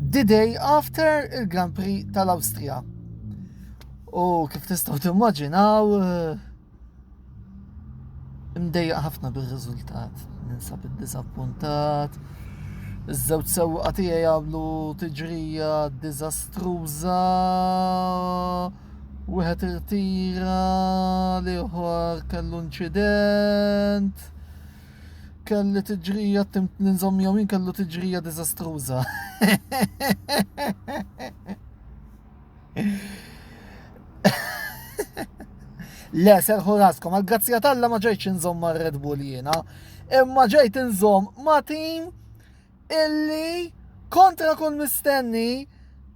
the day after il-Grand Prix tal-Awstrija. U kif tistgħu timmaġinaw eh, imdejjaq ħafna bir-riżultat. Ninsab id-diżappuntat. Iż-żewġ sewqa tiegħi jagħmlu tiġrija diżastruża. Wieħed irtira l-ieħor kellu inċident. kelli tiġrija tim ninżom miegħu jien kellu tiġrija diżastruża. Le, serħu raskom, għal grazzja talla ma ġejċ nżom ma' Red Bull jiena, imma ġejt nżom ma' tim illi kontra kull mistenni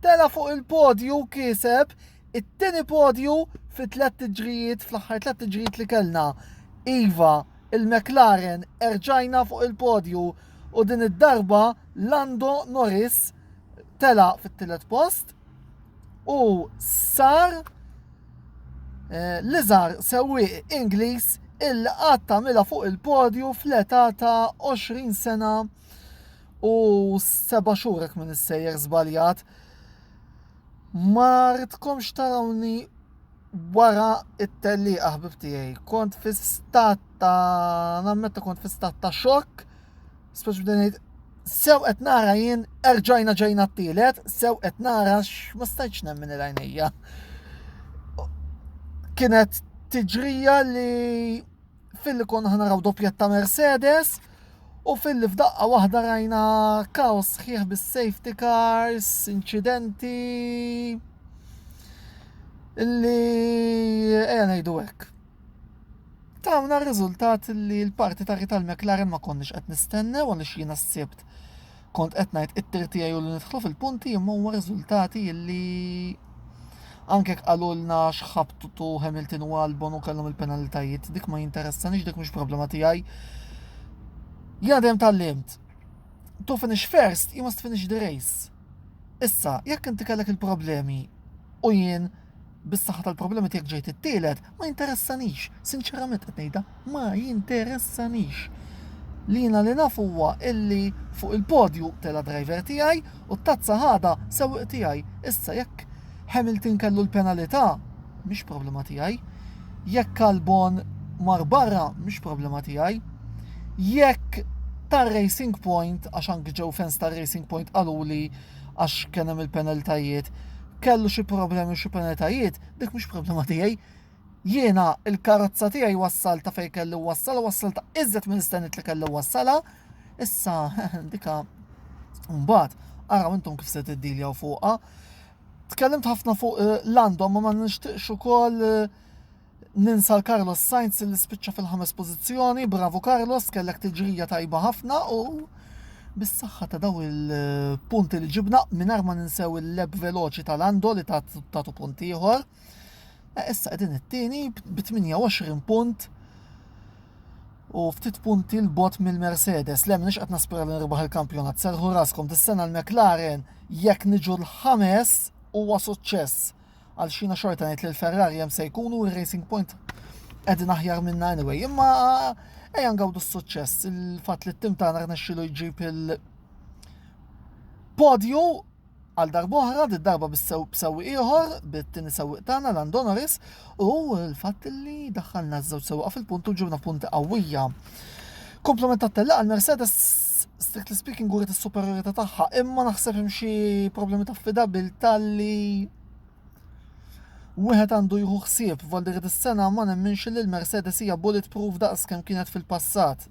tela fuq il-podju kiseb It-tieni podju fi tliet tiġrijiet fl-aħħar tliet tiġrijiet li kellna. Iva, il-McLaren erġajna fuq il-podju u din id-darba Lando Norris tela fit-tielet post u sar eh, li żar sewwieq Ingliż il għatta mela fuq il-podju fl-età ta' 20 sena u seba' xhurek minn issejjer żbaljat. Ma ridkomx tarawni wara t-tellieqa ħbib tiegħi. Kont fi stat ta' nammetta kont fi stat ta' xokk, speċi bdejn ngħid sew qed nara jien erġajna ġejna t-tielet, sew qed nara ma stajtx nemmen il-għajnejja. Kienet tiġrija li filli konna ħanaraw doppjett ta' Mercedes u filli f'daqqa waħda rajna kaos sħiħ bis-safety cars, incidenti illi eja ngħidu hekk. Tawna r-riżultat li l-parti ta' tal McLaren ma konniex qed nistennew għaliex jiena s-sibt kont qed ngħid it-tir tiegħi u li nidħlu fil-punti imma huwa riżultati illi anke jekk qalulna x'ħabtu Hamilton u Albon u kellhom il-penalitajiet dik ma jinteressanix dik mhux problema tiegħi. Jadem tal-limt. To finish first, you must finish the race. Issa, jekk inti kellek il-problemi u jien Bis-saħħa tal-problemi tiegħek ġejt it-tielet, ma jinteressanix, sinċerament qed ngħidha, ma jinteressanix. Li jiena li naf huwa illi fuq il-podju tela driver tiegħi u t-tazza ħada sewwieq tiegħi. Issa jekk Hamilton kellu l-penalità, mhix problema tiegħi. Jekk Albon mar barra, mhix problema tiegħi. Jekk tar-Racing Point, għax anki ġew fans tar-Racing Point qaluli għax kien hemm il-penaltajiet, kellu xi problemi u xi penaltajiet, dik mhux problema tiegħi. Jiena il-karozza tiegħi wassal ta' fejn kelli wassal, wassal ta' iżjed minn istennit li kelli wassala. Issa dika mbagħad araw intom kif se tiddiljaw fuqha. Tkellimt ħafna fuq eh, l-għandhom ma ma nixtieqx ukoll eh, Ninsa l-Carlos Sainz illi spiċċa fil-ħames pożizzjoni, bravu Carlos, kellek tiġrija tajba ħafna u bis-saħħa ta' daw il-punti li ġibna mingħajr ma ninsew il-leb veloċi tal-Ando li tatu punt ieħor. Eh, issa qegħdin it-tieni b 28 punt u ftit punti l-bot mill-Mercedes. Le minix qed naspira li nirbaħ il-kampjonat. Serħu raskom dis-sena l-McLaren jekk niġu l-ħames huwa suċċess. Għal xina xorta ngħid li l-Ferrari hemm se jkunu r-Racing Point qegħdin aħjar minna anyway. Imma ejja ngawdu s-suċċess il-fatt li t-tim tagħna rnexxilu jġib il- podju għal darbohra, di darba b'sew ieħor, bit-tini sew tagħna Landonoris, u l-fatt li daħħalna żewġ sewqa fil-punt u ġibna punti qawwija. Komplement ta' tella għal Mercedes strictly speaking għuret is-superjorità tagħha, imma naħseb hemm xi problemi ta' affidabilità li wieħed għandu jieħu ħsieb f'Valdir dis-sena ma nemminx li l-Mercedes hija bulletproof daqs kemm kienet fil-passat.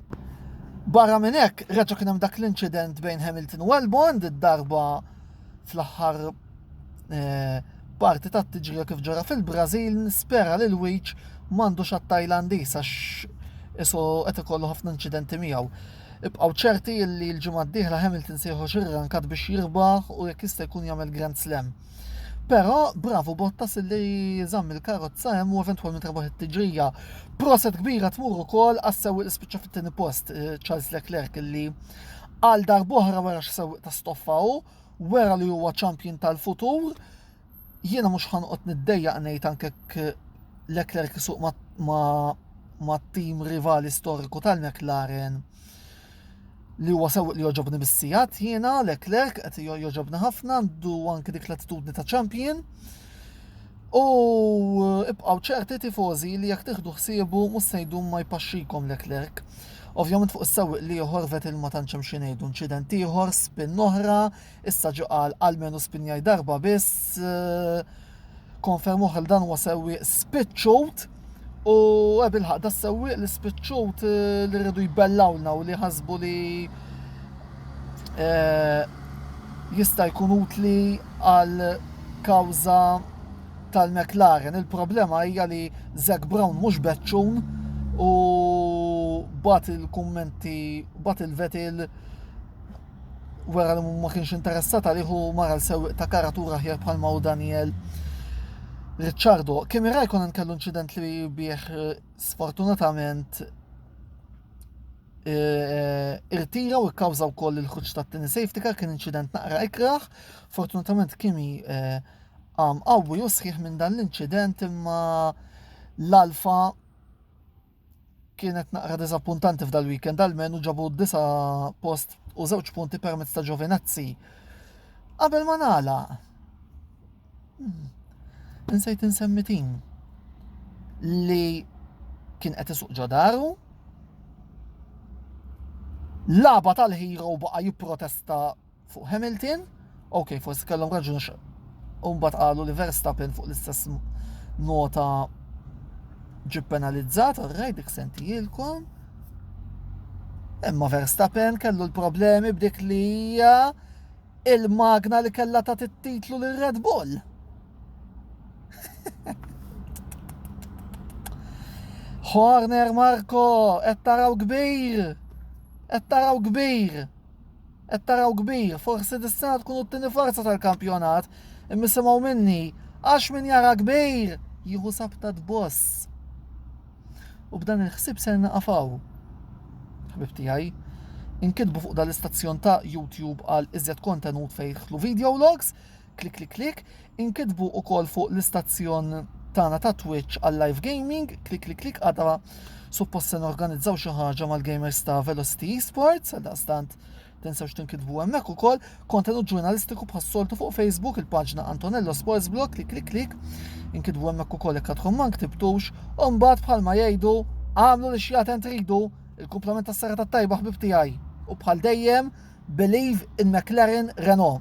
Barra minn hekk, reġa' kien hemm dak l-inċident bejn Hamilton u Albon, darba fl-aħħar eh, parti ta' tiġrija kif ġara fil-Brażil nispera li l-wiċ m'għandux għat-Tajlandis għax isu qed ikollu ħafna inċidenti miegħu. Ibqgħu ċerti li l-ġimgħa d-dieħla Hamilton se joħroġ ir-rankat biex jirbaħ u jekk jista' jkun jagħmel Grand Slam. Però bravu Bottas li żamm il-karozza hemm u eventwalment rebaħ it-tiġrija. Proset kbira tmur ukoll għas-sewwi li spiċċa fit-tieni post eh, Charles Leclerc li għal darbohra wara x'sewwi ta' stoffa u Wera li huwa champion tal-futur. Jiena mhux ħanqot niddejjaq ngħid anke Leclerc isuq ma' tim rivali storiku tal-McLaren li huwa sew li joġobni bis-sijat jiena Leclerc qed joġobni ħafna għandu anke dik l-attitudni ta' champion. U ibqgħu ċerti tifożi li jekk tieħdu ħsiebu mhux se jdum ma jpaxxikom Leclerc. Ovvjament fuq is-sewwieq l-ieħor Vettel ma tantx hemm xi ngħidu, inċident ieħor, spin oħra, issa ġie qal almenu spinjaj darba biss, konferma oħra li dan huwa sewwieq spiċċut u bilħaq da sewwieq li spiċċut eh, li rridu jbellawlna u li ħasbu li eh, jista' jkun utli għal kawża tal-McLaren, il-problema hija li Zac Brown mhux beċċun u bat il-kummenti bat il-Vettel wara li ma kienx interessat għalih u mara l-sewwieq ta' karatura ħjar bħal ma' Daniel Ricciardo. Kimi Raikkonen kellu inċident li bih eh, sfortunatament eh, eh, irtira u kkawża wkoll il-ħuġ tat-tieni safety car kien inċident naqra ikraħ. Fortunatament Kimi Qam qawwi u sħiħ minn dan l-inċident imma l-Alfa kienet naqra diżappuntanti f'dal-weekend għal-menu ġabu d-disa post u żewġ punti permezz ta' Giovinazzi. Qabel ma nala, hmm, insejt insemmi tim li kien qed isuq ġodaru, laba tal-hero baqa' jipprotesta fuq Hamilton, ok, forsi kellhom raġun għax umbat qalu li Verstappen fuq l-istess nota ġib penalizzat, orraj dik sentijilkom. Imma Verstappen kellu l-problemi b'dik li hija il-magna li kella ta' titlu l Red Bull. Horner Marco, qed taraw kbir, qed taraw kbir. Qed taraw kbir, forsi dis-sena tkunu t-tieni forza tal-kampjonat, imma isimgħu minni, għax min jara kbir jieħu sabta tboss. U b'dan il-ħsieb ser naqaf hawn. Ħbib tiegħi, inkitbu fuq dal-istazzjon ta' YouTube għal iżjed kontenut fejn jidħlu video logs, klik klik klik, inkitbu u kol fuq l-istazzjon tana ta' Twitch għal live gaming, klik klik klik għada suppost se organizzaw xi ħaġa mal-gamers ta' Velocity Esports, għal stant tinsewx tinkitbu hemmhekk ukoll, kontenut ġurnalistiku bħas-soltu fuq Facebook, il-paġna Antonello Sports Blog, klik klik klik, inkitbu hemmhekk ukoll jekk għadkom ma nktibtux, u mbagħad bħalma jgħidu għamlu li xjaten tridu il-kumplament tas-sera tat-tajba ħbib tiegħi. U bħal dejjem, believe in McLaren Renault.